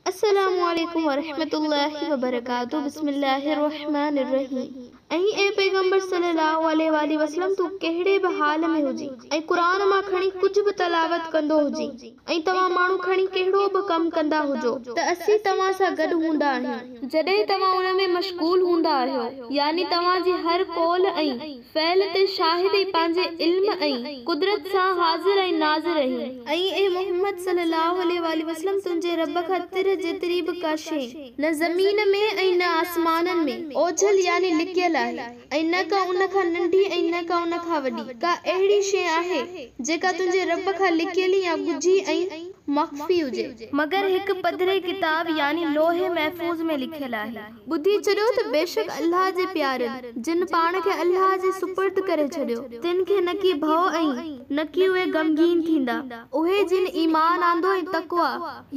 السلام عليڪم ورحمة الله وبرڪاته بسم الله الرحمٰن الرحيم ۽ اي پيغمبر صلي الله عليه واٰله وسلم تون ڪهڙي به حال ۾ هجين ۽ قرآن مان کڻي ڪجهه به تلاوت ڪندو هجين ۽ توهان ماڻهو کڻي ڪهڙو به ڪم ڪندا هجو ته اسين توهان سان گڏ هوندا آهيون جڏهن توهان ان ۾ مشغول هوندا آهيو يعني توهان جي هر قول ۽ فعل تي شاهد ئي پنهنجي علم ۽ قدرت سان حاضر ۽ ناظر رهين. ۽ اي محمد صلّي اللّٰه عليه واٰله وسلّم تنهنجي ربّ کان تر جيتري به ڪا شيء نه زمين ۾ ۽ نه آسمانن ۾ اوجهل يعني لڪيل آهي ۽ نه ڪا ان کان ننڍي ۽ نه ڪا ان کان وڏي ڪا اهڙي شيء آهي جيڪا تنهنجي ربّ کان لڪيل يا ڳجهي ۽ مخفي هجي مگر هڪ پڌري ڪتاب يعني لوح محفوظ ۾ لکيل آهي. ٻڌي ڇڏيو ته بيشڪ الله جي پيارين، جن پاڻ کي الله جي سپرد ڪري ڇڏيو، تن کي نه ڪي ڀئو ۽ نه ڪي اهي غمگين ٿيندا، اهي جن ايمان آندو ۽ تقويٰ،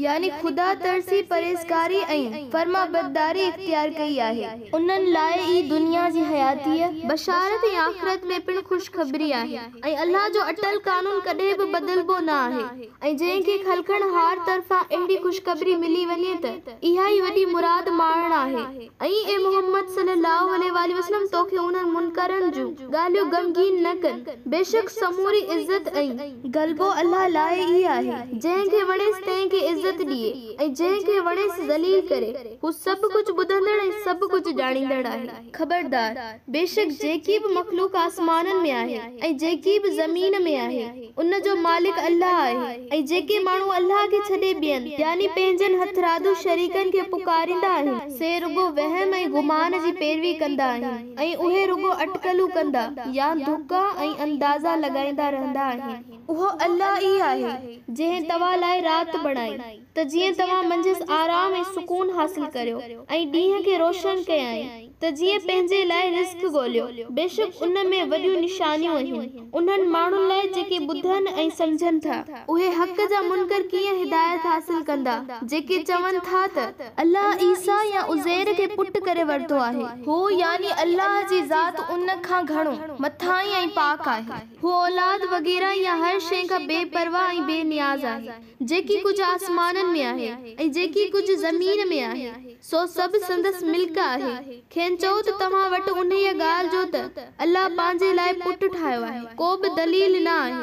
يعني خدا ترسي، پرهيزگاري ۽ فرمانبرداري اختيار ڪئي آهي، انهن لاء ئي دنيا جي حياتيء، بشارت ۽ آخرت ۾ پڻ خوشخبري آهي، ۽ الله جو اٽل قانون ڪڏهن به بدلبو نه آهي. ۽ جنهن کي خلقڻ هار طرفان اهڙي خوشخبري ملي وڃي ته اها ئي وڏي مراد ماڻڻ آهي ۽ اي محمد صلي الله عليه واٰله وسلم توکي انهن منڪرن جون ڳالهيون غمگين نه ڪن بيشڪ سموري عزت ۽ غلبو الله لاء ئي آهي جنهن کي وڻيس تنهن کي عزت ڏئي ۽ جنهن کي وڻيس ذليل ڪري هو سڀ ڪجهه ٻڌندڙ ۽ سڀ ڪجهه ڄاڻيندڙ آهي. خبردار! بيشڪ جيڪي به مخلوق آسمانن ۾ آهي ۽ جيڪي به زمين ۾ آهي. ان جو مالڪ الله آهي ۽ جيڪي ماڻهو الله کي ڇڏي ٻين، يعني پنهنجن هٿرادو شريڪن کي پڪاريندا آهن، سي رڳو وهم ۽ گمان جي پيروي ڪندا آهن ۽ اهي رڳو اٽڪلون ڪندا يا دڪا ۽ اندازا لڳائيندا رهندا آهن. اهو الله ئي آهي، جنهن توهان لاء رات بڻائي. ته جيئن توهان منجهس آرام ۽ سڪون حاصل ڪريو ۽ ڏينهن کي روشن ڪيائين ته جيئن پنهنجي لاء رزق ڳوليو، بيشڪ ان ۾ وڏيون نشانيون اهن، انهن ماڻهن لاء جيڪي ٻڌن ۽ سمجهن ٿا. اهي حق جا منڪر ڪيئن هدايت حاصل ڪندا، جيڪي چون ٿا ته. الله عيسيٰ يا عزير کي پٽ ڪري ورتو آهي. هو، يعني الله جي ذات، ان کان گهڻو، مٿاهين ۽ پاڪ آهي. هو اولاد وغيره يا هر شيء کان بي پرواهه ۽ بي نياز آهي. جيڪي ڪجهه آسمانن ۾ آهي ۽ جيڪي ڪجهه زمين ۾ آهي، سو سڀ سندس ملڪ آهي. کين چئو ته توهان وٽ انهيء ڳالهه جو ته الله پنهنجي لاء پٽ ٺاهيو آهي، ڪو به دليل نه آهي.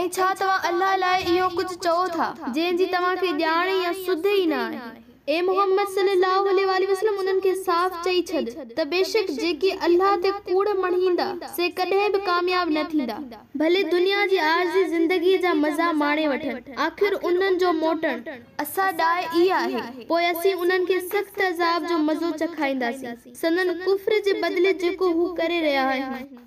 ۽ ڇا توهان الله لاء اهو ڪجهه چئو ٿا، جنهن جي توهان کي ڄاڻ يا سڌ ئي نه آهي؟ اي محمد صلّي اللّٰه عليه واٰله وسلّم انهن کي صاف چئي ڇڏ ته بيشڪ جيڪي الله تي ڪوڙ مڙهيندا سي ڪڏهن به ڪامياب نه ٿيندا، ڀلي دنيا جي عارضي زندگيء جا مزا ماڻي وٺن، آخر انهن جو موٽڻ. اسان ڏانهن ئي آهي، پوء اسين انهن کي سخت عذاب جو مزو چکائينداسين سندن ڪفر جي بدلي جيڪو هو ڪري رهيا آهن.